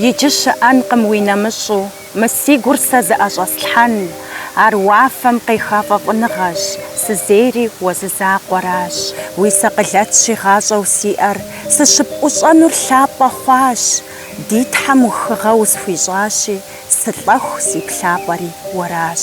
Иджы щыӏэнкъым уи нэмыщӏу мы си гур сэ зыӏэщӏэслъхьэн, ар уафэм къеха фӏэфӏыныгъэщ, сызейри уэ зы закъуэращ, уи сэ къылэт щигъащӏэу сиӏэр сыщыпӏущӏэнур лъапӏэ хъуащ, ди Тхьэм ухыгъэ усхуищӏащи, сылӏэху си плъапӏэри уэращ.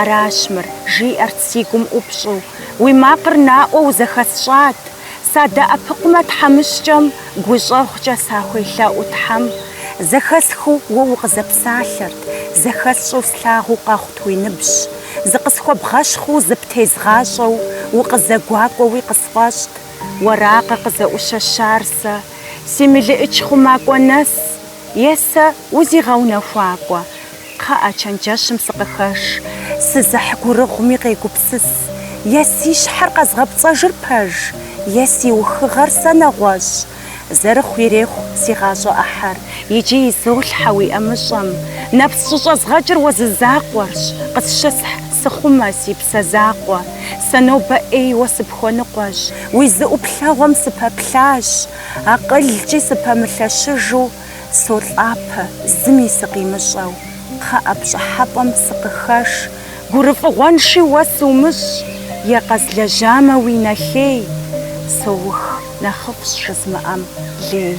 Аращ мыр, жиӏэрт си гум ӏупщӏу. Уи макъыр наӏуэу зэхэсщӏат. Садэӏэпыкъумэ тхьэмыщкӏэм, гущӏэгъукӏэ сахуелъэӏу Тхьэм. Зэхэсхыу уэ укъызэпсалъэрт, зэхэсщӏэу слъагъуу къэхъут уи ныбжь. Зыкъысхуэбгъэщхъыу зыптезгъащӏэу, укъызэгуакӏуэуи къысфӏэщӏт. Уэракъэ къызэӏущэщар сэ, си мелыӏыч хъумакӏуэ нэс? Е сэ узигъэунэхуакӏуэ, кхъыӏэ, чэнджэщым сыкъыхэш, сызыхь гурыгъуми къегупсыс, е си щхьэр къэзгъэпцӏэжыр пэж, е си ухыгъэр сэ нэгъуэщӏ. Зэрыхъу ирехъу си гъащӏэ ӏыхьэр. Иджы изолъхьэ уи ӏэмыщӏэм, нэпс щӏыщӏэзгъэкӏыр уэ зы закъуэрщ, къысщысхь сыхъумэ, си псэ закъуэ. Сэ нобэ ӏейуэ сыпхуэныкъуэщ, уи зы ӏуплъэгъуэм сыпэплъащ. Акъылкӏи сыпэмылъэщыжу солӏапэ, зыми сыкъимыщӏэу, кхъыӏэ, пщӏыхьэпӏэм сыкъыхэш. Гурыфӏыгъуэнши уэ сумыщӏ, е къэзлэжьамэ уи нэхей, соух, нэхъыфӏщ жызмыӏэм лей.